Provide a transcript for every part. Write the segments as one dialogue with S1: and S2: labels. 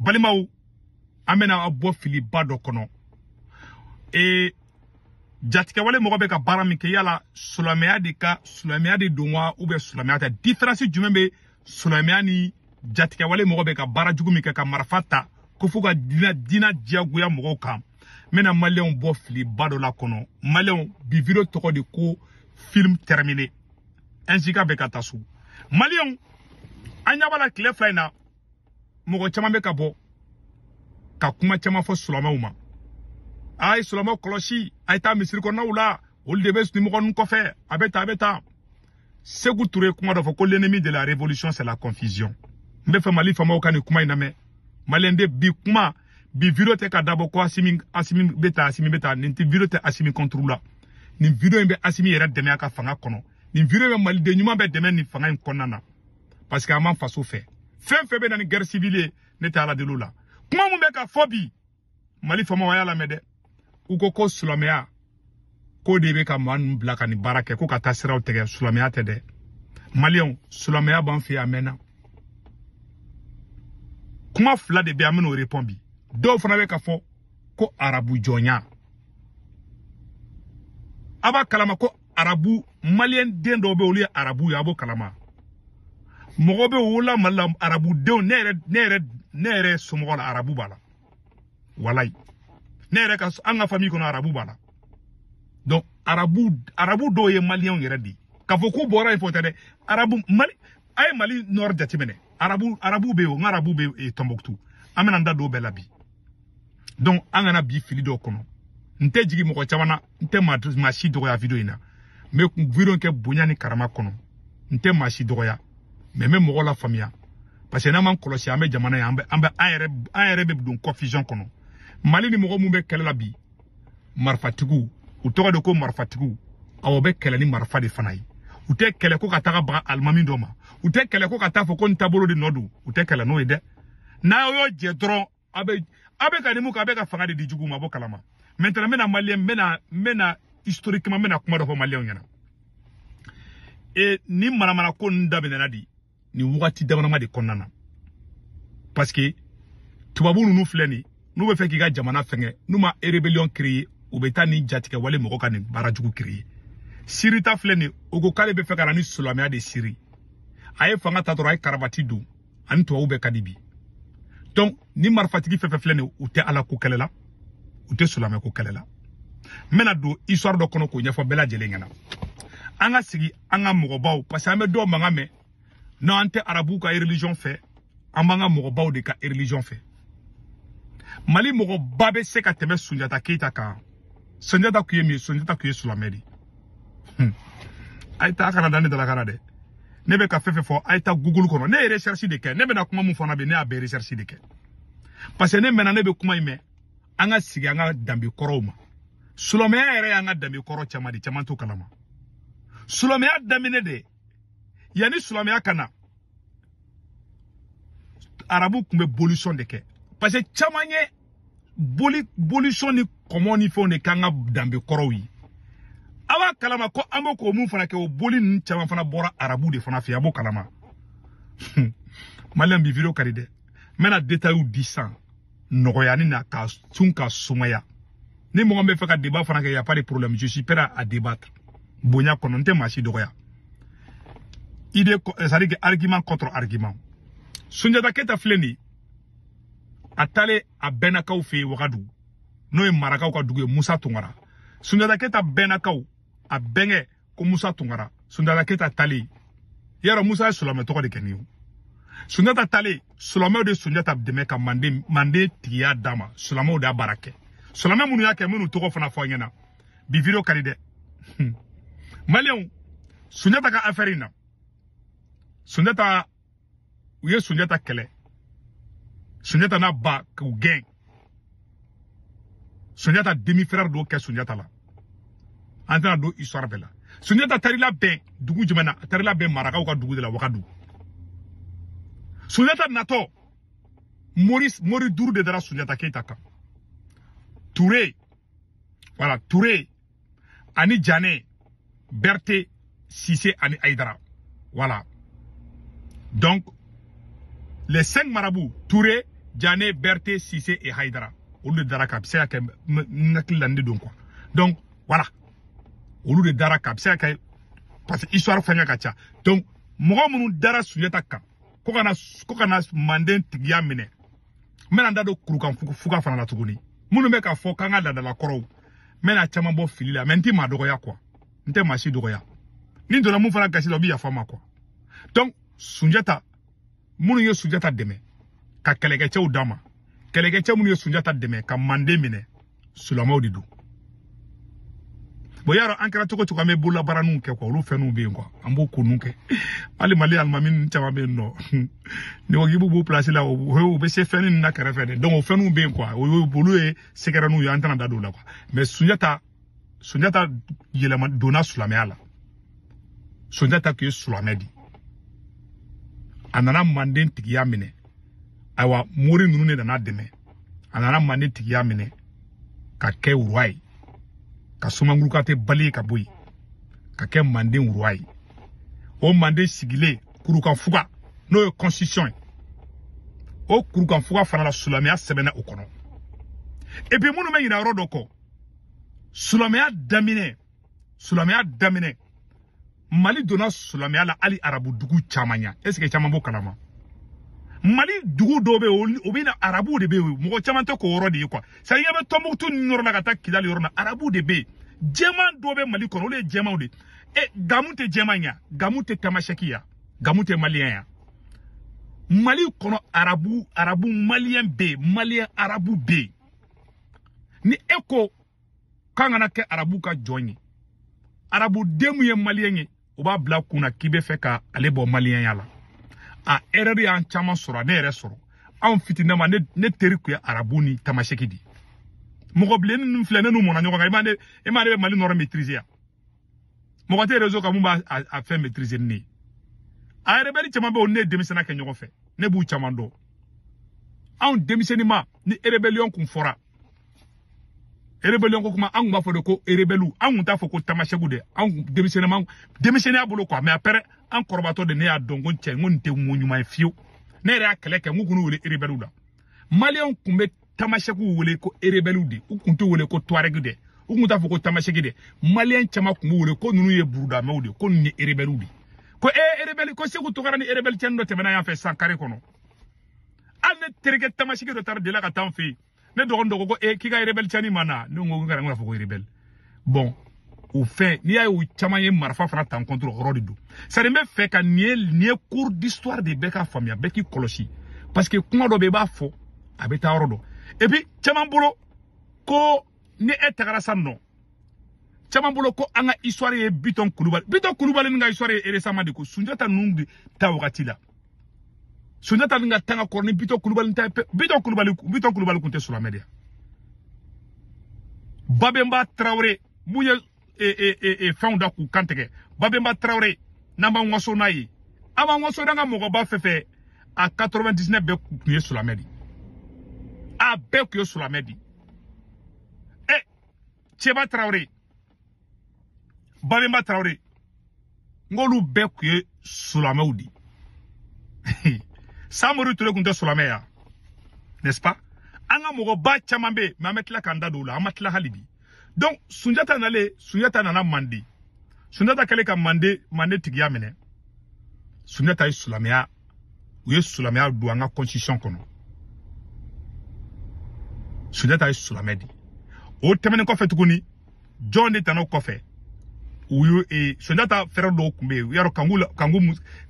S1: balimaw an bɛna aw bɔ filiba dɔ kɔnɔ ee jatigɛwale mɔgɔ bɛ ka baara min kɛ yala silamɛya de ka silamɛya de don wa ou bien silamɛya tɛ différence jumɛn bɛ silamɛya ni jatigɛwale mɔgɔ bɛ ka baara jugu min kɛ ka marifa ta ko f'u ka diinɛ diinɛ diyagoya mɔgɔw kan n bɛna maliyɛnw bɔ filiba dɔ la kɔnɔ maliyɛnw bi video tɔgɔ de ko film terminé ɛnsika bɛɛ ka taa so maliyɛnw an ɲɛ b'a la tile fila in na mɔgɔ caman bɛ ka bɔ ka kuma caman fɔ sulamaw ma a ye sulamaw kɔlɔsi a ye taa misiri kɔnɔnaw la olu de bɛ nin mɔgɔ ninnu kɔfɛ a bɛ taa a bɛ taa seku ture kuma dɔ fɔ ko l'ennemi de la révolution c'est la confusion n bɛ fɛ mali faamaw ka nin kuma in lamɛn maliyɛn de bi kuma bi video tɛ ka dabɔ ko asimi asimi bɛ taa asimi bɛ taa nin tɛ video tɛ asimi contre la nin video in bɛ asimi yɛrɛ dɛmɛ a ka fanga kɔnɔ nin video in bɛ maliden ɲuman bɛɛ dɛmɛ nin fanga in kɔnɔna na parce que an b'an faso fɛ fɛn fɛn bɛ na ni guerre civile ye ne tɛ ala deli o la kuma min bɛ ka fɔ bi mali faamaw a y'a lamɛn dɛ u ko ko silamɛya k'o de bɛ ka maa ninnu bila ka nin baara kɛ ko ka taa siraw tigɛ silamɛya tɛ dɛ maliyɛnw silamɛya b'an fɛ yan a mɛnna kuma fila de bɛ an bɛn'o repɔn bi dɔw fana bɛ ka fɔ ko arabu jɔnya a b'a kalama ko arabu maliyɛn den dɔw bɛ olu ye arabu ye a b'o kalama mɔgɔ bɛɛ wolola mali la arabu denw ne yɛrɛ ne yɛrɛ ne yɛrɛ somɔgɔ la arabu b'a la walayi ne yɛrɛ ka an ka famille kɔnɔ arabu b'a la donc arabu arabu dɔw ye maliyɛnw yɛrɛ de ye k'a fɔ k'u bɔra yen fɔ tɛ dɛ arabu mali a ye mali nord jateminɛ arabu arabu bɛ yen o n ka arabu bɛ e, tɔnbɔkutu an bɛna n da don o bɛɛ la bi donc an kana bin fili dɔw kɔnɔ n tɛ jigin mɔgɔ caman na n tɛ maa maa si dɔgɔya video in na n bɛ video kɛ bonya ni karama kɔnɔ n tɛ maa si dɔgɔya mais n bɛ mɔgɔw lafaamuya parce que n'an m'an kɔlɔsi an bɛ jamana ye an bɛ an bɛ an yɛrɛ an yɛrɛ bɛ don confusion kɔnɔ mali ni mɔgɔ minnu bɛ kɛlɛ la bi marifatigiw u tɔgɔ de ko marifatigiw awɔ u bɛ kɛlɛ ni marifa de fana ye u tɛ kɛlɛ ko ka taga baga alimami dɔ ma u tɛ kɛlɛ ko ka taa fɔ ko n taabolo de nɔ don u tɛ kɛlɛ n'o ye dɛ n'a y'o jɛ dɔrɔn a bɛ a bɛ ka ni mun kɛ a bɛ ka fanga de di juguw ma a b'o kalama maintenant n bɛna maliyɛn n bɛna n bɛna historiquement n bɛna kuma dɔ fɔ maliyɛnw ɲɛna e nin manamanako ninnu daminɛna de nin wagati damanama de kɔnɔna na parce que tubabu ninnu filɛ nin n'u bɛ fɛ k'i ka jamana fɛngɛ n'u ma rébellion créer u bɛ taa nin jatigɛwale mɔgɔ ka nin baara jugu créer siri ta filɛ nin o ko k'ale bɛ fɛ ka na ni silamɛya de siri a ye fanga ta dɔrɔn a ye karabati don a ni tubabu bɛɛ ka di bi donc nin marifatigi fɛn fɛn filɛ nin u tɛ ala ko kɛlɛ la u tɛ silamɛya ko kɛlɛ la n bɛna don histoire dɔ kɔnɔ k'o ɲɛfɔ bɛɛ lajɛlen ɲɛna an ka sigi an ka mɔgɔbaw parce que an bɛ dɔw mankan mɛn non an tɛ arabuw ka religion fɛ an b'an ka mɔgɔbaw de ka religion fɛ mali mɔgɔba bɛ se ka tɛmɛ sunjata keyita kan sunjata tun ye mun ye sunjata tun ye silamɛ de ye a ye taa kana da ne dalakan na dɛ ne bɛ ka fɛn fɛn fɔ a ye taa google kɔnɔ ne ye recherche de kɛ ne bɛna kuma min fana bɛ ne y'a bɛɛ recherche de kɛ parce que ne mɛnna ne bɛ kuma in mɛn an ka sigi an ka danbe kɔrɔw ma silamɛya yɛrɛ y'an ka danbe kɔrɔ caman de caman t'o kalama silamɛya daminɛ de yanni silamɛya ka na arabu tun bɛ bolisɔn de kɛ parce que caman ye o bolisɔn ni kɔmɔ ni fɛnw de k'an ka danbe kɔrɔw ye a b'a kalama ko an bɛ ko mun fana kɛ o boli ninnu caman fana bɔra arabu de fana fɛ a b'o kalama maliyɛn bi video ka di dɛ n bɛna detayiw di sisan nɔgɔyani na ka sun ka sumaya ni mɔgɔ bɛ fɛ ka débat fana kɛ y a pas de problème je suis prêt à débattre bonya kɔnɔ n tɛ maa si dɔgɔya idée c'est à dire que argument contre argument sunjata keyita filɛ nin a taalen a bɛnnakaw fɛ yen wagadu n'o ye marakaw ka dugu ye musa tunkara sunjata keyita bɛnnakaw a bɛnkɛ ko musa tunkara sunjata keyita taalen yɔrɔ musa ye sulamɛ tɔgɔ de kɛ ni o sunjata taalen sulamɛw de sunjata dɛmɛ ka manden tigiya d'a ma sulamɛw de y'a baara kɛ sulamɛ minnu y'a kɛ n bɛn'u tɔgɔ fana fɔ aw ɲɛna bi video ka di dɛ maliyɛnw sunjata ka afɛri in na sunjata u ye sunjata kɛlɛ sunjata n'a ba k'u gɛn sunjata demi frère de y'o kɛ sunjata la an tɛna don histoire bɛɛ la sunjata taar'i labɛn dugu jumɛn na a taar'i labɛn marakaw ka dugu de la wagadugu sunjata natɔ mori duuru de dara sunjata keyita kan ture voilà ture ani jane berthe sise ani haidara voilà donc les cinq marabouts touré jane berthe sise et haidara olu de dar'a kan a bɛ se ka kɛ n hakili la nin de don quoi donc voilà olu de dar'a kan a bɛ se ka kɛ parce que histoire faniya ka ca donc mɔgɔ minnu dara sunjata kan ko ka na manden tigiya minɛ n bɛna n da don kurukan fuga fana la tuguni minnu bɛ k'a fɔ k'an ka laadala kɔrɔw n bɛna caman bɔ fili la mais n tɛ maa dɔgɔya quoi n tɛ maa si dɔgɔya ni n donna mun fana gasi la o bɛ yafa n ma quoi donc sunjata minnu ye sunjata dɛmɛ ka kɛlɛkɛcɛw d'a ma kɛlɛkɛcɛ minnu ye sunjata dɛmɛ ka manden minɛ sulamaw de don bon i y'a dɔn an kɛra cogo cogo an bɛ bololabaaraninw kɛ quoi olu fɛnw bɛ yen quoi an b'o ko ninnu kɛ hali mali alimami ninnu caman bɛ yen nɔ n'i ko k'i b'u b'u pilasi la u bɛ se fɛn ninnu na kɛrɛfɛ de donc o fɛnw bɛ yen quoi o ye olu ye sekerɛninw ye an tɛna da don o la quoi mais sunjata sunjata yɛlɛma donna silamɛya la sunjata tun ye silamɛ de a nana manden tigiya minɛ ayiwa mori ninnu de nan'a dɛmɛ a nana manden tigiya minɛ ka kɛ roi ye ka sumanguru kantɛ balayer ka bɔ yen ka kɛ manden roi ye o manden sigilen kurukanfuga n'o ye constitution ye o kurukanfuga fana la silamɛya sɛbɛnna o kɔnɔ et puis minnu bɛ ɲinɛ yɔrɔ dɔ kɔ silamɛya daminɛ silamɛya daminɛ mali donna silamɛya la hali arabu dugu caman ɲɛ est ce que caman b'o kalama mali dugu dɔw bɛ yen o bɛ na arabuw de bɛ yen mɔgɔ caman tɛ k'o yɔrɔ de ye quoi c'est à dire vers tɔnbukutu ni yɔrɔ la ka taa kidali yɔrɔ la arabuw de bɛ yen jɛman dɔw bɛ mali kɔnɔ olu ye jɛmanw de ɛ gamu tɛ jɛman ya gamu tɛ tamasɛki ya gamu tɛ maliyɛn ya mali kɔnɔ arabu arabu maliyɛn bɛ yen maliyɛn arabu bɛ yen ni e ko k'an kana kɛ arabu ka jɔn ye arabu den min ye maliyɛn ye o b'a bila a kun na k'i bɛ fɛ ka ale bɔ maliyɛnya la a erreur y'an caman sɔrɔ ne yɛrɛ sɔrɔ anw fitininma ne teri tun ye arabu ni tamaseki de ye mɔgɔ bilennin ninnu filɛ ne n'u mɔna ɲɔgɔn kan i m'a ne i m'a ne bɛ mali nord maîtriser yan mɔgɔ tɛ réseau kan min b'a affaire maîtriser ni ne ye a rebɛli caman bɛ yen ne ye denmisɛnninya kɛ ɲɔgɔn fɛ ne b'u caman dɔn anw denmisɛnnin ma ni rébellion kun fɔra rebellion ko kuma an kun b'a fɔ de ko rebelliw an kun t'a fɔ ko tamasɛkiw dɛ an kun denmisɛnninma denmisɛnninya bolo quoi mais après an kɔrɔbatɔ de ne y'a dɔn ko cɛ n ko nin tɛ ko ɲuman ye fiyewu ne yɛrɛ y'a kɛlɛ kɛ n ko u kan'u wele rebelliw la maliyɛnw kun bɛ tamasɛkiw wele ko rebelliw de u kun t'u wele ko tuareg dɛ u kun t'a fɔ ko tamasɛki dɛ maliyɛn caman kun b'u wele ko ninnu ye burudamɛw de ko ninnu ye rebelliw de ko ee rebelli ko seku tunkara ni rebelli cɛnin dɔ tɛmɛna yan fɛ san kare kɔnɔ hali ne terikɛ tamasɛki dɔ taara delila ka taa an fɛ yen ne dɔgɔnin dɔ ko ko ee k'i ka rebɛli cɛnin ma na ne ko ko kana kan'a fɔ ko rebɛli bon au fait n'i y'a ye o caman ye marifa fana ta an contre hɔrɔn de don c'est à dire n bɛ fɛ ka nin ye nin ye cours d'histoire de bɛɛ k'a faamuya bɛɛ k'i kɔlɔsi parce que kuma dɔ bɛ i b'a fɔ a bɛ taa yɔrɔ dɔ et puis caman bolo ko ni e tagara sa nɔ caman bolo ko an ka histoire ye bitɔn kulubali bitɔn kulubali nin ka histoire ye récemment de ko sunjata ninnu de ta wagati la sunjata nin ka tan ka kɔrɔ ni bitɔn kulubali ta ye pe bitɔn kulubali bitɔn kulubali tun tɛ sulamɛ de ya babenba tarawele mun ye e, e, e, e fɛnw da k'u kan tigɛ babenba tarawele n'an b'an waso n'a ye an b'an waso n'an ka mɔgɔba fɛn fɛn a 99 bɛɛ tun ye sulamɛ de a bɛɛ tun ye sulamɛ de ye ɛ cɛba tarawele Babemba Traoré n k'olu bɛɛ tun ye sulamɛw de ye Samori Ture tun tɛ sulamɛ ya n'est-ce pas an ka mɔgɔba caman bɛ yen mais an bɛ tila k'an da don o la an ma tila hali bi donc Sunjata nalen Sunjata nana mande Sunjata kɛlen ka mande mande tigiya minɛ Sunjata ye sulamɛya u ye silamɛya don an ka constitution kɔnɔ sunjata ye silamɛ de o tɛmɛnen kɔfɛ tuguni jɔn de tana o kɔfɛ u ye e, sunjata frère dɔw tun bɛ yen yarɔ kanku kanku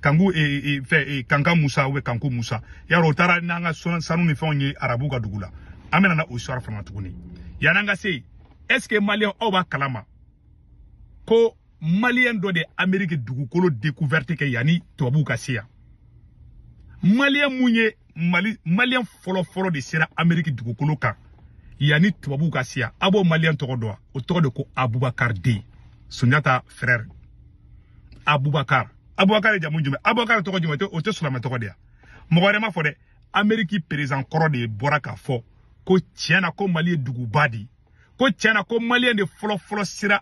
S1: kanku e, e, fɛ e, kanka musa ou kanku musa yarɔ o taara n'an ka sanu ni fɛnw ye arabu ka dugu la an bɛna na o sira fana na tuguni yan'an ka se yen est ce que maliyɛn aw b'a kalama ko maliyɛn dɔ de ameriki dugukolo découverte kɛ yanni tubabuw ka se yan maliyɛn mun ye mali maliyɛn fɔlɔfɔlɔ de sera ameriki dugukolo kan yanni tubabuw ka se yan aw b'o maliyɛn tɔgɔ dɔn wa o tɔgɔ de ko abubakar deux sunjata frère abubakar abubakar ye jamu jumɛn abubakar tɔgɔ jumɛn o tɛ silamɛ tɔgɔ de ya mɔgɔ wɛrɛ m'a fɔ dɛ ameriki perezan kɔrɔ de bɔra k'a fɔ ko tiɲɛ na ko mali ye duguba de ye ko tiɲɛ na ko maliyɛn de fɔlɔfɔlɔ sera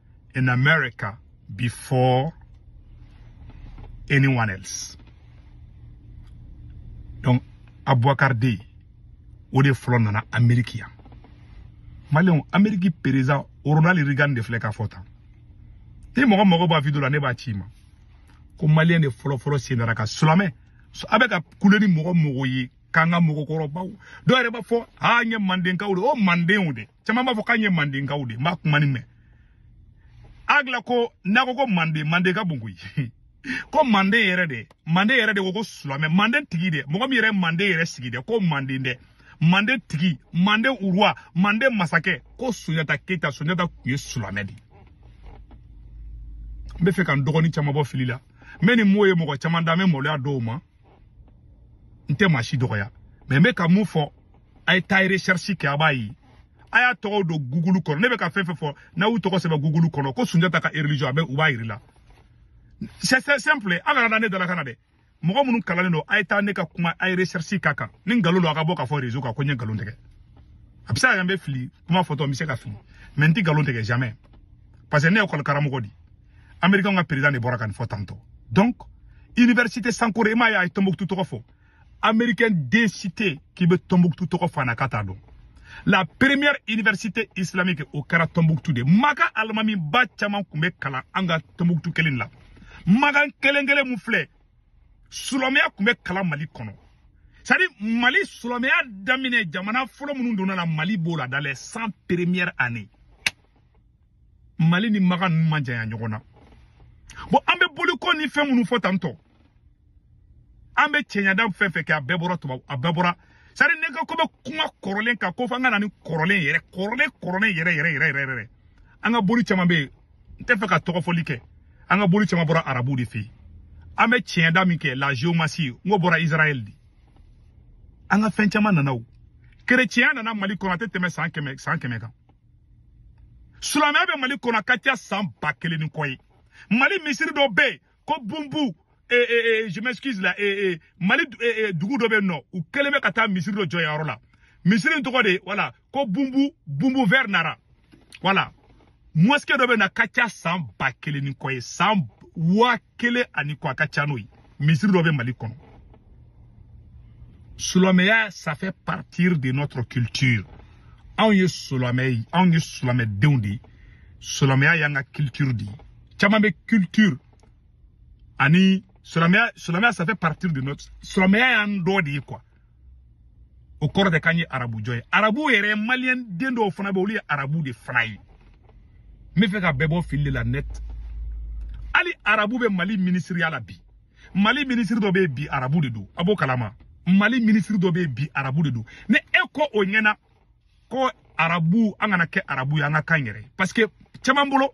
S1: in America before anyone else. Donc, Aboubakar deux, o de fɔlɔ nana Amérique yan. Maliyɛnw, Amérique perezan Ronald Reagan de filɛ k'a fɔ tan. Ni mɔgɔ mago b'a video la, ne b'a ci i ma. Ko Maliyɛn de fɔlɔ fɔlɔ sen dar'a kan, silamɛ, aw bɛ ka kule ni mɔgɔ o mɔgɔ ye, k'an ka mɔgɔkɔrɔbaw. Dɔw yɛrɛ b'a fɔ, aa an ye Mandenkaw de, o Mandenw de. caman b'a fɔ k'an ye mandenkaw de n b'a kuma nin mɛn aw da la ko n'a ko ko manden manden ka bon koyi ko manden yɛrɛ de manden yɛrɛ de ko ko sulamɛ manden tigi de mɔgɔ min yɛrɛ manden yɛrɛ sigi dɛ ko manden dɛ manden tigi manden roi manden masakɛ ko sunjata keyita sunjata tun ye sulamɛ de n b'a fɛ ka n dɔgɔnin caman bɔ fili la mais n'i m'o ye mɔgɔ caman da n bɛ maloya dɔw ma n tɛ maa si dɔgɔya mais n bɛ ka mun fɔ a ye taa recherche kɛ a b'a ye a y'a tɔgɔw don google kɔnɔ ne bɛ ka fɛn fɛn fɔ n'a y'u tɔgɔ sɛbɛn google kɔnɔ ko sunjata ka religion a bɛ u b'a yira i la c'est simple an kana da ne dalakan na dɛ mɔgɔ minnu kalannen don a ye taa ne ka kuma a ye recherche k'a kan ni nkalon don a ka bɔ k'a fɔ réseau kan ko n ye nkalon tigɛ a bɛ se ka kɛ n bɛ fili kuma fɔtɔ n bɛ se ka fili mais n tɛ nkalon tigɛ jamais parce que ne ye école karamɔgɔ de ye américain ka président de bɔra ka nin fɔ tantôt donc université sankore i m'a ye a ye tombouctou tɔgɔ fɔ américain den si tɛ yen k'i bɛ tɔnbuktu tɔgɔ fɔ a na k'a t'a dɔn la première université islamique o kɛra tɔnbuktu de makan alimamiba caman tun bɛ kalan an ka tɔnbuktu kelen la makan kelen kelen min filɛ silamɛya tun bɛ kalan mali kɔnɔ c'est à dire mali silamɛya daminɛ jamana fɔlɔ minnu donna a la mali b'o la dans les cent premières années mali ni makan ninnu ma janya ɲɔgɔn na bon an bɛ boliko ni fɛn minnu fɔ tantôt an bɛ tiɲɛda fɛn fɛn kɛ a bɛɛ bɔra tubabu a bɛɛ bɔra sari ne ka ko bɛ kuma kɔrɔlen kan ko fo an ka na ni kɔrɔlen yɛrɛ kɔrɔlen kɔrɔlen yɛrɛ yɛrɛ yɛrɛ yɛrɛ yɛrɛ an ka boli caman bɛ yen n t'a fɛ ka tɔgɔfɔli kɛ an ka boli caman bɔra arabu de fɛ yen an bɛ tiɲɛda min kɛ la géomancie n ko bɔra israël de an ka fɛn caman nana o kerecɛnya nana mali kɔnɔ a tɛ tɛmɛ san kɛmɛ san kɛmɛ kan silamɛya bɛ mali kɔnɔ a ka ca san ba kelen ni kɔ ye mali misiri dɔ bɛ yen ko bunbu e, e, e, je m'excuse la mali dugu dɔ bɛ yen nɔ u kɛlen bɛ ka taa misiri dɔ jɔ yɔrɔ la misiri in tɔgɔ de voilà ko bunbu bunbu vers nara voilà mosquée dɔ bɛ yen a ka ca san ba kelen ni kɔ ye san waa kelen ani kɔ a ka ca n'o ye misiri dɔ bɛ mali kɔnɔ silamɛya ça fait partir de notre culture anw ye silamɛ ye anw ye silamɛdenw de ye silamɛya y'an ka culture de ye caman bɛ culture ani silamɛya silamɛya ça fait partir de notre silamɛya y'an dɔ de ye quoi o kɔrɔ tɛ k'an ye arabu jɔn ye arabu yɛrɛ maliyɛn den dɔw fana bɛ olu ye arabu de fana ye n b'a fɛ ka bɛɛ bɔ fili de la net hali arabu bɛ mali minisiriya la bi mali minisiri dɔ bɛ yen bi arabu de don a b'o kalama mali minisiri dɔ bɛ yen bi arabu de don ni e ko o ɲɛna ko arabu an kana kɛ arabu ye an ka kan yɛrɛ parce que caman bolo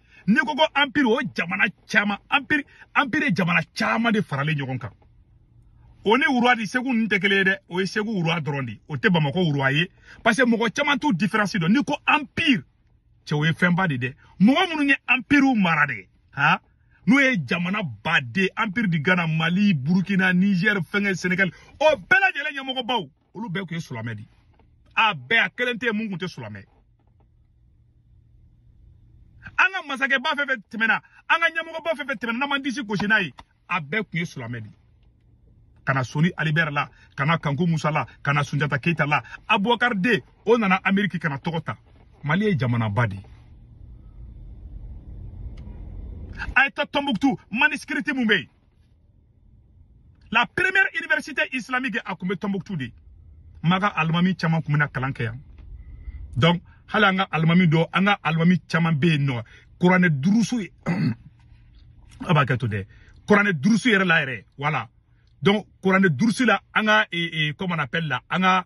S1: n'i ko ko anpiri o jamana caman anpiri anpiri ye jamana caman de faralen ɲɔgɔn kan o ni roi de segu ninnu tɛ kelen ye dɛ o ye segu roi dɔrɔn de ye o tɛ bamakɔ roi ye parce que mɔgɔ caman t'u diferansi dɔn n'i ko anpiri cɛ o ye fɛnba de dɛ mɔgɔ minnu ye anpiriw mara dɛ han n'o ye jamanaba de empire du ghana mali burukina nizɛri fɛnkɛ senegali o bɛɛ lajɛlen ɲɛmɔgɔbaw olu bɛɛ tun ye sulamɛ di a bɛɛ a kelen tɛ yen mun tun tɛ sulamɛ an ka masakɛba fɛn fɛn tɛmɛna an ka ɲɛmɔgɔba fɛn fɛn tɛmɛna n'an man disi gosi n'a ye a bɛɛ tun ye sulamɛ di ka na soni alibɛri la ka na kanku musa la ka na sunjata keyita la abubakari deux o nana ameriki ka na tɔgɔ ta mali ye jamanaba de ye a ye taa tɔnbuktu manuscrit mun bɛ yen la première université islamique a tun bɛ Tombouctou de maka alimami caman tun bɛna kalan kɛ yan donc hali an ka alimami dɔ an ka alimami caman bɛ yen n'o kuranɛ durusu ye a b'a kɛ to dɛ kuranɛ durusu yɛrɛ la yɛrɛ voilà donc kuranɛ durusu la an ka comment on appelle la an ka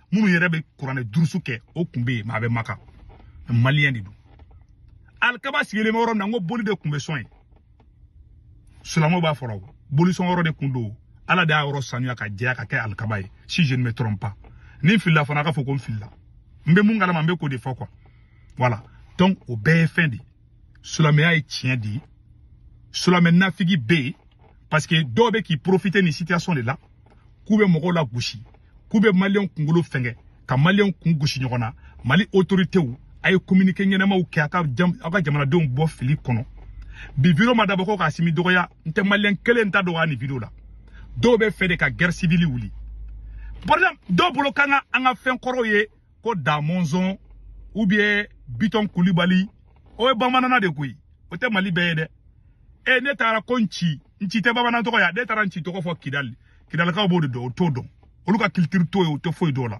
S1: minnu yɛrɛ bɛ kuranɛ durusu kɛ o kun bɛ yen mais a bɛ maka maliyɛn de don alikaba sigilen bɛ yɔrɔ min na n ko boli de kun bɛ sɔn yen silamɛw b'a fɔra bolisɔn yɔrɔ de kun don ala de y'a yɔrɔ sanuya ka jɛya ka kɛ alikaba ye si je ne me trompe pas ni n filila fana a ka fɔ ko n filila n bɛ mun kalama n bɛ k'o de fɔ quoi voilà donc o bɛɛ ye fɛn de ye silamɛya ye tiɲɛ de ye silamɛ nafigi bɛ yen parce que dɔw bɛ k'i profiter nin situation de la k'u bɛ mɔgɔw lagosi k'u bɛ maliyɛnw kunkolo fɛngɛ ka maliyɛnw kun gosi ɲɔgɔn na mali autoritéw a ye communiqué ɲɛnamaw kɛ a ka aw ka jamanadenw bɔ fili kɔnɔ bi video ma dabɔ ko k'a simi dɔgɔya n tɛ maliyɛn kelen ta dɔgɔya nin video la dɔw bɛ fɛ de ka guerre civile wuli par exemple dɔw bolo kan ka an ka fɛn kɔrɔw ye ko da mɔnzɔn ou bien bitɔn kulibali o ye bamanana de koyi o tɛ mali bɛɛ ye dɛ e n'e taara ko nci nci tɛ bamanan tɔgɔ ye n'e taara nci tɔgɔ fɔ kidali kidalikaw b'o de dɔn o t'o dɔn olu ka culture t'o ye o tɛ foyi dɔn o la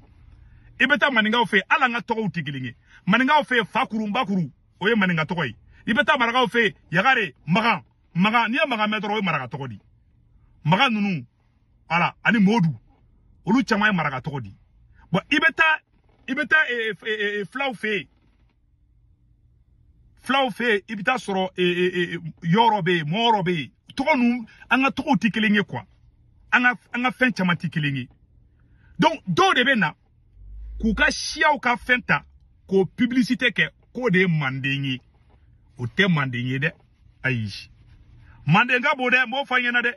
S1: i bɛ taa maninkaw fɛ yen hali an ka tɔgɔw tɛ kelen ye maninkaw fɛ yen fakuru nbakuru o ye maninka tɔgɔ ye i bɛ taa marakaw fɛ yen yagare magan magan n'i ye magan mɛn dɔrɔn o ye maraka tɔgɔ de ye magan ninnu voilà ani modu olu caman ye maraka tɔgɔ di bon i bɛ taa i bɛ taa eh, eh, eh, fulaw fɛ yen fulaw fɛ yen i bɛ t'a sɔrɔ yɔrɔ bɛ yen mɔɔrɔ bɛ yen tɔgɔ ninnu an ka tɔgɔw tɛ kelen ye quoi an ka an ka fɛn caman tɛ kelen ye donc dɔw de bɛ na k'u ka siyaw ka fɛn ta k'o publicité kɛ k'o de ye manden ye o tɛ manden ye dɛ ayi manden ka bon dɛ n b'o fɔ aw ɲɛna dɛ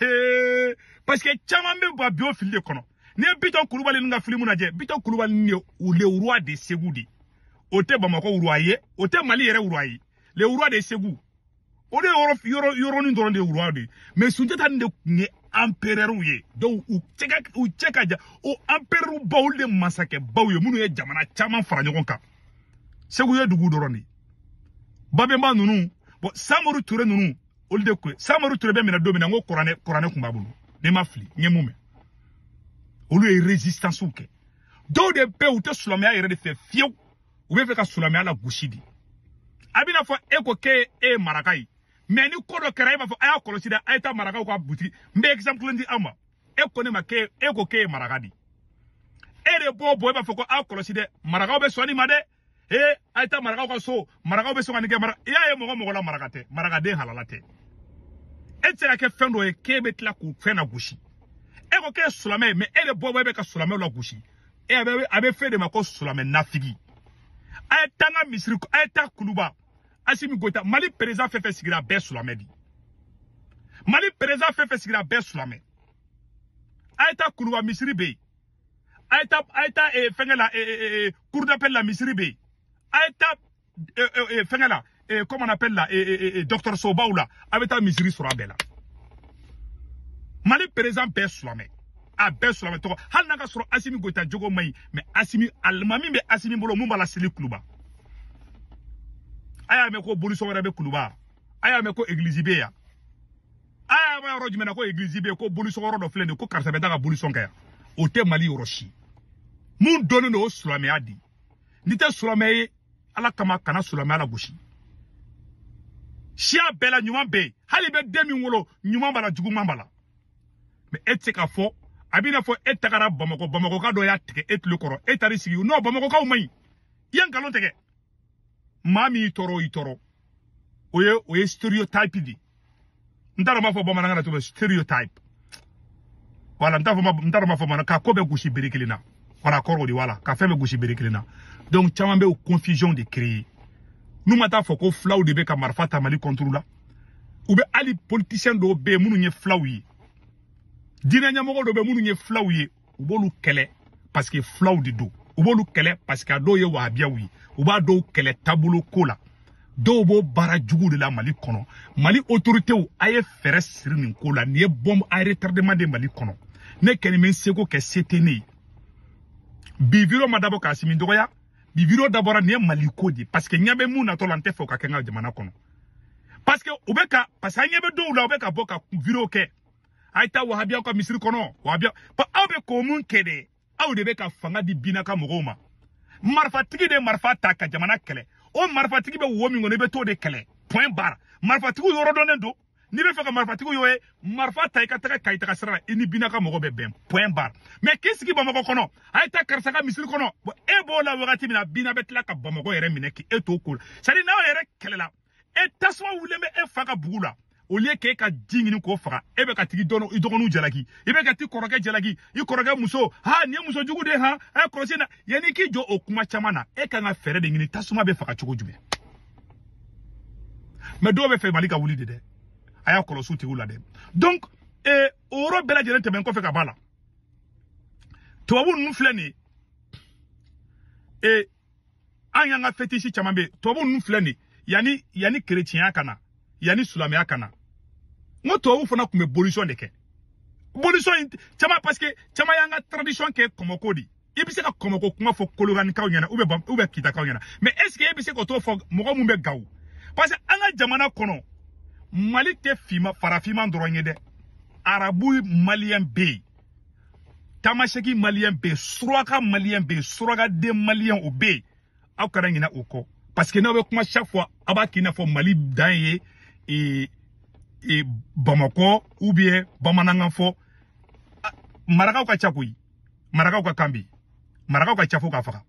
S1: hee parce que caman bɛ ba bi o fili de kɔnɔ n'i ye bitɔn kulubali ninnu ka filimu lajɛ bitɔn kulubali ninnu ye u le roi de segu de o tɛ bamakɔ roi ye o tɛ mali yɛrɛ roi ye le roi de segu o de yɔrɔ yɔrɔ yɔrɔnin dɔrɔn de ye roi de ye mais sunjata nin de tun ye empereur ye donc u cɛ ka u cɛ ka jan o empereur baw de masakɛ baw ye minnu ye jamana caman fara ɲɔgɔn kan segu ye dugu dɔrɔn de ye babɛnba ninnu bon samori ture ninnu olu de ko samori ture bɛ minɛ don min na n ko kuranɛ kuranɛ kun b'a bolo ne ma fili n ye mun mɛn olu ye résistance kɛ dɔw de bɛ u tɛ silamɛya yɛrɛ de fɛ fiyewu u bɛ fɛ ka silamɛya lagosi de a bɛna fɔ e ko k'e e ye maraka ye mais ni ko dɔ kɛra e b'a fɔ a y'a kɔlɔsi dɛ a ye taa marakaw ka butigi n bɛ exemple kelen di aw ma e ko ne ma k'e e ko k'e ye maraka de ye e de b'o bɔ e b'a fɔ ko a kɔlɔsi dɛ marakaw bɛ sɔn nin ma dɛ he a ye taa marakaw ka so marakaw bɛ sɔn ka nin kɛ mara i y'a ye mɔgɔ mɔgɔ la maraka tɛ marakaden halala tɛ e tɛ se ka kɛ fɛn dɔ ye k'e bɛ tila k'o fɛn nagosi e ko k'e ye silamɛ ye mais e de bɛ bɔ e bɛ ka silamɛw lagosi e a bɛ a bɛ f'e de ma ko silamɛ nafigi a ye taa n ka misiri a ye taa kuluba asimi goyita mali président fɛn fɛn sigira bɛɛ silamɛ de mali président fɛn fɛn sigira bɛɛ silamɛ a ye taa kuluba misiri bɛ yen a ye taa a ye taa eh, fɛngɛ la eh, eh, cour d'appel la misiri bɛ yen a ye taa fɛngɛ la comment on appelle la dɔgɔtɔrɔsobaw la a bɛ taa misiri sɔrɔ a bɛɛ la mali président bɛɛ silamɛ a bɛɛ silamɛ tɔgɔ hali n'a ka sɔrɔ asimi goyita jogo man ɲi mais asimi alimami bɛ asimi bolo mun b'a laseli kuluba a y'a mɛn ko bolisɔnyɔrɔ bɛ kuluba a y'a mɛn ko egilizi bɛ yan a y'a mɛn yɔrɔ jumɛn na ko église bɛ ko bolisɔnyɔrɔ dɔ filɛ nin ko karisa bɛ taa ka bolisɔn kɛ yan o tɛ mali yɔrɔ si mun dɔnnen don o silamɛya di n'i tɛ silamɛ ye ala kama kana silamɛya lagosi siya bɛɛ la ɲuman bɛ yen hali i bɛ den min wolo ɲuman b'a la juguman b'a la mais e tɛ se k'a fɔ a b'i n'a fɔ e tagara bamakɔ bamakɔka dɔ y'a tigɛ e tulo kɔrɔ e taar'i sigi non bamakɔkaw man ɲi i ye nkalon tigɛ maa min y'i tɔɔrɔ o y'i tɔɔrɔ o ye o ye stéréotype de ye n t'a dɔn n b'a fɔ bamanankan na cogo min stéréotype wala n t'a fɔ n t'a dɔn n b'a fɔ bamanankan ka ko bɛɛ gosi bere kelen na wala kɔrɔ o de wala ka fɛn bɛɛ gosi bere kelen na donc caman bɛ o confusion de créer n'u ma taa fɔ ko fulaw de bɛ ka marifa ta mali contre la u bɛ hali politisiyɛn dɔw bɛ yen minnu ye fulaw ye diinɛ ɲɛmɔgɔ dɔw bɛ minnu ye fulaw ye u b'olu kɛlɛ parce que fulaw de don u b'olu kɛlɛ parce que a dɔw ye wahabiyaw ye u b'a dɔw kɛlɛ taabolo ko la dɔw b'o baara jugu de la mali kɔnɔ mali autoritéw a ye fɛɛrɛ siri nin ko la nin ye bombe à retardement de mali kɔnɔ ne kɛni bɛ n seko kɛ se tɛ ne ye bi video ma dabɔ k'asimi dɔgɔya bi video dabɔra nin ye mali ko de parce que n ɲɛ bɛ mun natɔ la n tɛ fɛ o ka kɛ n ka jamana kɔnɔ parce que u bɛ ka parce que an ɲɛ bɛ dɔw la u bɛ ka bɔ ka video kɛ a ye taa wahabiyaw ka misiri kɔnɔ wahabiya aw bɛ k'o mun kɛ de aw de bɛ ka fanga di bina ka mɔgɔw ma marifatigi de marifa ta ka jamana kɛlɛ o marifatigi bɛ wo min kɔnɔ i bɛ t'o de kɛlɛ point barre marifatigiw yɔrɔ dɔnnen don n'i bɛ fɛ ka marifatigiw yɔrɔ ye marifa ta i ka taga kayi taga sira la i ni bina ka mɔgɔ bɛ bɛn point barre mais k'i sigi bamakɔ kɔnɔ a ye taa karisa ka misiri kɔnɔ e b'o la wagati min na bina bɛ tila ka bamakɔ yɛrɛ minɛ k'e t'o ko la c'est à dire n'aw yɛrɛ kɛlɛla e tasuma wulilen bɛ e fa ka bugu la au lieu k'e ka ji ɲini k'o faga e bɛ ka tigi dɔn i dɔgɔninw jalaki i bɛ ka t'i kɔrɔkɛ jalaki i kɔrɔkɛ muso ha nin ye muso jugu de ye han ɛ kɔlɔsi na yanni k'i jɔ o kuma caman na e kan ka fɛɛrɛ de ɲini tasuma bɛ faga cogo jumɛn mais dɔw b'a fɛ mali ka wuli de dɛ a y'a kɔlɔsi o tigiw la dɛ donc eh, o yɔrɔ bɛɛ lajɛlen tɛmɛn kɔfɛ ka b'a la tubabu ninnu filɛ nin ye eh, an y'an ka fetisi caman bɛ tubabu ninnu filɛ nin yanni yanni kerecɛnya ka na yanni silamɛya ka na n ko tubabu fana tun bɛ bolisɔn de kɛ bolisɔn in caman parce que caman y'an ka tradition kɛ kɔmɔko de i bɛ se ka kɔmɔko kuma fɔ kolokanikaw ɲɛna ou bien ou bien kitakaw ɲɛna mais est ce que e bɛ se k'o t'o fɔ mɔgɔ min bɛ gawo parce que an ka jamana kɔnɔ mali tɛ finma farafinman dɔrɔn ye dɛ arabu maliyɛn bɛ yen tamaseki maliyɛn bɛ yen suraka maliyɛn bɛ yen surakaden maliyɛn o bɛ yen aw kana ɲinɛ o kɔ parce que n'aw bɛ kuma chaque fois aw b'a k'i n'a fɔ mali dan ye ee ee bamakɔ ou bien bamanankan fɔ marakaw ka ca koyi marakaw ka kan bɛ yen marakaw ka ca fo k'a faga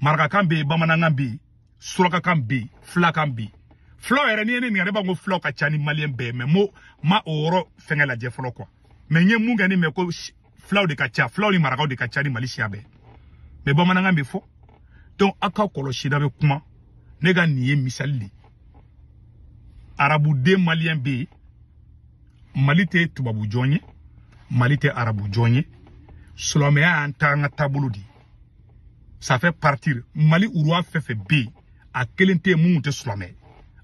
S1: marakakan bɛ yen bamanankan bɛ yen surakakan bɛ yen filakan bɛ yen fulaw yɛrɛ n'i ye ne ɲininka ne b'a ko fulaw ka ca ni maliyɛn bɛɛ ye mais mɔgɔ ma o yɔrɔ fɛngɛ lajɛ fɔlɔ quoi mais n ye min kɔni mɛn ko fulaw de ka ca fulaw ni marakaw de ka ca ni mali siya bɛɛ mais bamanankan bɛ fɔ donc aw k'a kɔlɔsi n'aw bɛ kuma ne ka nin ye misali de arabuden maliyɛn bɛ yen mali tɛ tubabu jɔn ye mali tɛ arabu jɔn ye silamɛya y'an ta an ka taabolo de ye ça fait partie mali roi fɛn fɛn bɛ yen a kelen tɛ yen minnu tɛ silamɛ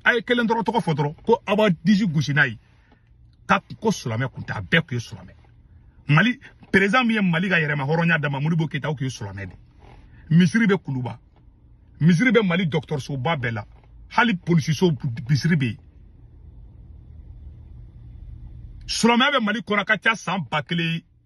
S1: a ye kelen dɔrɔn tɔgɔ fɔ dɔrɔn ko aw b'a disi gosi n'a ye k'a ko silamɛ kun tɛ a bɛɛ tun ye silamɛ mali perezan min ye mali ka yɛrɛmahɔrɔnya d'a ma modibo keyita a tun ye silamɛ de misiri bɛ kuluba misiri bɛ mali dɔgɔtɔrɔsoba bɛɛ la hali polisiso misiri bɛ yen silamɛya bɛ mali kɔnɔ ka ca san ba kelen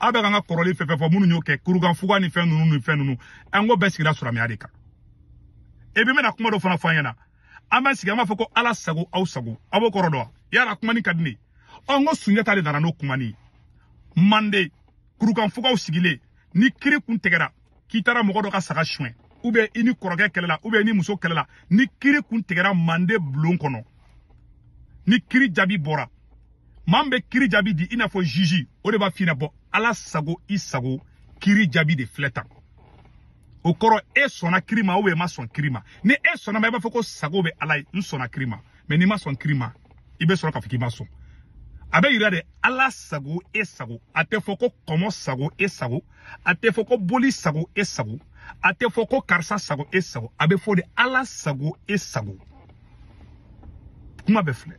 S1: aw bɛ ka an ka kɔrɔlen fɛn fɛn fɔ minnu y'o kɛ kurukan fuga ni fɛn ninnu ni fɛn ninnu an ko bɛɛ sigira silamɛya de kan e bɛ mɛna kuma dɔ fana fɔ an ɲɛna an b'an sigi an b'a fɔ ko ala sago aw sago aw b'o kɔrɔ dɔn yala kuma nin ka di ne ɔ n ko sunjata de nana n'o kuma nin ye manden kurukan fuga u sigilen ni kiri kun tigɛra k'i taara mɔgɔ dɔ ka saga suɲɛ ou bien i n'i kɔrɔkɛ kɛlɛla ou bien i n'i muso kɛlɛla ni kiri kun tigɛra mande bulon kɔnɔ ni kiri jaabi bɔra maa min bɛ kiri jaabi di i n'a fɔ juge o de b'a f'i ɲɛna bon ala sago i sago kiri jaabi de filɛ tan o kɔrɔ e sɔnna kiri ma ou bien i ma sɔn kiri ma ni e sɔnn'a ma i b'a fɔ ko sago bɛ ala ye n sɔnna kiri ma mais n'i ma sɔn kiri ma i bɛ sɔrɔ k'a fɔ k'i ma sɔn a bɛ yira de ala sago e sago a tɛ fɔ ko kɔmɔ sago e sago a tɛ fɔ ko boli sago e sago a tɛ fɔ ko karisa sago e sago a bɛ fɔ de ala sago e sago kuma bɛ filɛ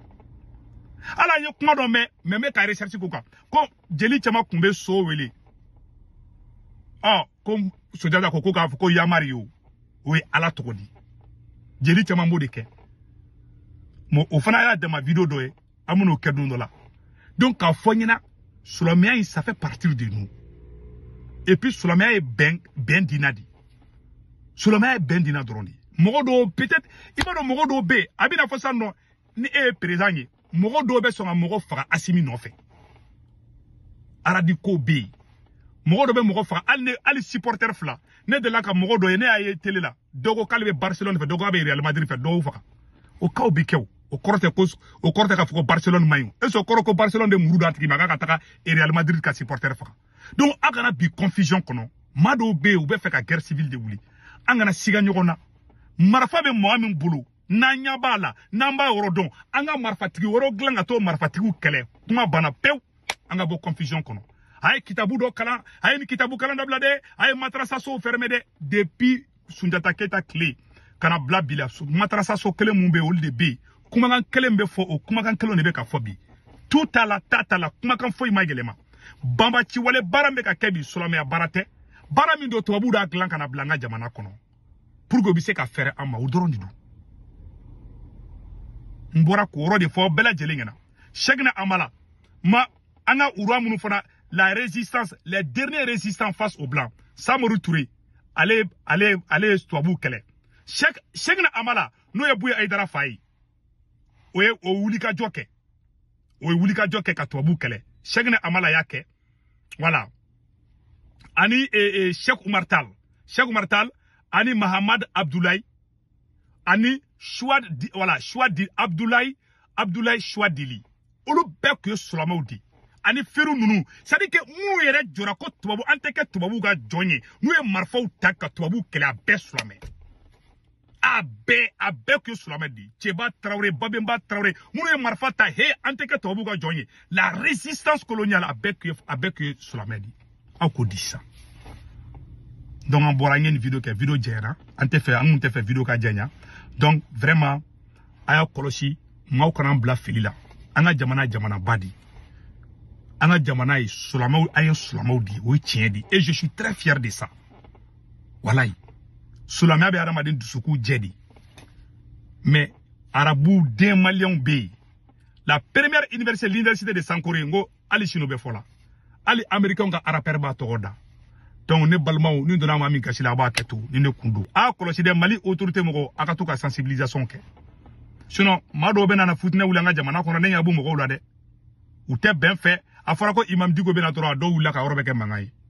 S1: ala ye kuma dɔ mɛn mais n bɛ ka recherche k'o kan ko jeli caman tun bɛ so wele ɔ ko sunjata ko ko k'a fɔ ko yamari ye o o ye ala tɔgɔ di jeli caman b'o de kɛ mais o fana y'a dama video dɔ ye an bɛn'o kɛ don dɔ la donc k'a fɔ ɲɛna silamɛya in ça fait partie de nous et puis silamɛya ye bɛn bɛn dina de silamɛya ye bɛn dina dɔrɔn de ye mɔgɔ dɔw peut-être i b'a dɔn mɔgɔ dɔw bɛ yen a bɛna fɔ sisan non ni e ye président ye mɔgɔ dɔw bɛ sɔn ka mɔgɔ faga asimi nɔfɛ radicaux bɛ yen mɔgɔ dɔ bɛ mɔgɔ faga hali ne hali supporter fila ne delila ka mɔgɔ dɔ ye ne y'a ye tele la dɔ ko k'ale bɛ barcelone fɛ dɔ ko a bɛ real madrid fɛ dɔw faga o kaw bɛ kɛ o o kɔrɔ tɛ ko o kɔrɔ tɛ k'a fɔ ko barcelone man ɲi est ce que o kɔrɔ ko barcelone de muru d'a tigi ma k'a ka taga real madrid ka supporter faga donc a kana bin confusion kɔnɔ maa dɔw bɛ yen u bɛ fɛ ka guerre civile de wuli an kana siga ɲɔgɔn na marifa bɛ mɔgɔ min bolo n'an ɲɛ b'a la n'an b'a yɔrɔ dɔn an ka marifatigi wɛrɛw dilan ka t'o marifatigiw kɛlɛ kuma banna pewu an ka bɔ confusion kɔnɔ a ye kitabu dɔ kalan a ye nin kitabu kalan dabila dɛ a ye matarasasow fɛrɛmɛ dɛ depuis sunjata keyita tile ka na bila bi la matarasaso kelen mun bɛ olu de bɛ yen kumakan kelen bɛ fɔ o kumakan kelen de bɛ ka fɔ bi tu t'a la ta t'a la kumakan foyi ma yɛlɛma banbaanciwale baara bɛ ka kɛ bi silamɛya baara tɛ baara min don tubabuw d'a dilan ka na bila an ka jamana kɔnɔ pour que u bɛ se ka fɛrɛ an ma o dɔrɔn de don n bɔra k'o yɔrɔ de fɔ bɛɛ lajɛlen ɲɛna sɛkina hamala ma an ka rois minnu fana la résistance les derniers résistants face aux blancs samori ture ale ale ale ye tubabuw kɛlɛ sɛkina hamala n'o ye buya ayidara fa ye o ye o wulikajɔ kɛ o ye wulikajɔ kɛ ka tubabuw kɛlɛ sɛkina hamala y'a kɛ voilà ani e, e, sɛk umar tal sɛk umar tal ani mahamad abdulayi ani Souadi voilà Souadi Abdoulaye Abdoulaye Souad dili olu bɛɛ tun ye sulamɛw de ani firun ninnu c'est à dire que minnu yɛrɛ jɔra ko tubabu an tɛ kɛ tubabuw ka jɔn ye n'u ye marifaw ta ka tubabuw kɛlɛ a bɛɛ sulamɛ a bɛɛ a bɛɛ tun ye sulamɛ de ye cɛba tarawele babenba tarawele minnu ye marifa ta he an tɛ kɛ tubabuw ka jɔn ye la résistance coloniale a bɛɛ tun ye a bɛɛ tun ye sulamɛ de ye aw ko di sisan donc an bɔra an ye nin video kɛ video janyara an tɛ fɛ an kun tɛ fɛ video ka janya donc vraiment a y'a kɔlɔsi maaw kana bila fili la an ka jamana jamanaba di an ka jamana ye sulamaw an ye sulamaw di o ye tiɲɛ di et je suis très fier de ça walayi sulamɛya bɛ adamaden dusukun jɛ de mais arabu den maliyɛnw bɛ yen la première université l'université de sankore n ko ali sinu bɛ fɔ la ali amerikɛnw ka arapɛri b'a tɔgɔ da donc ne balimaw ni n donna maa min gasi la a bɛ hakɛ to ni ne kun don a kɔlɔsi dɛ mali autorité mɔgɔw a ka to ka sensibilisation kɛ sinon maa dɔw bɛ nana futinɛ wuli an ka jamana kɔnɔ ne ɲɛ b'u mɔgɔw la dɛ u tɛ bɛn fɛ a fɔra ko imam diko bɛ na dɔrɔn a dɔw wulila ka yɔrɔ bɛɛ kɛ mankan ye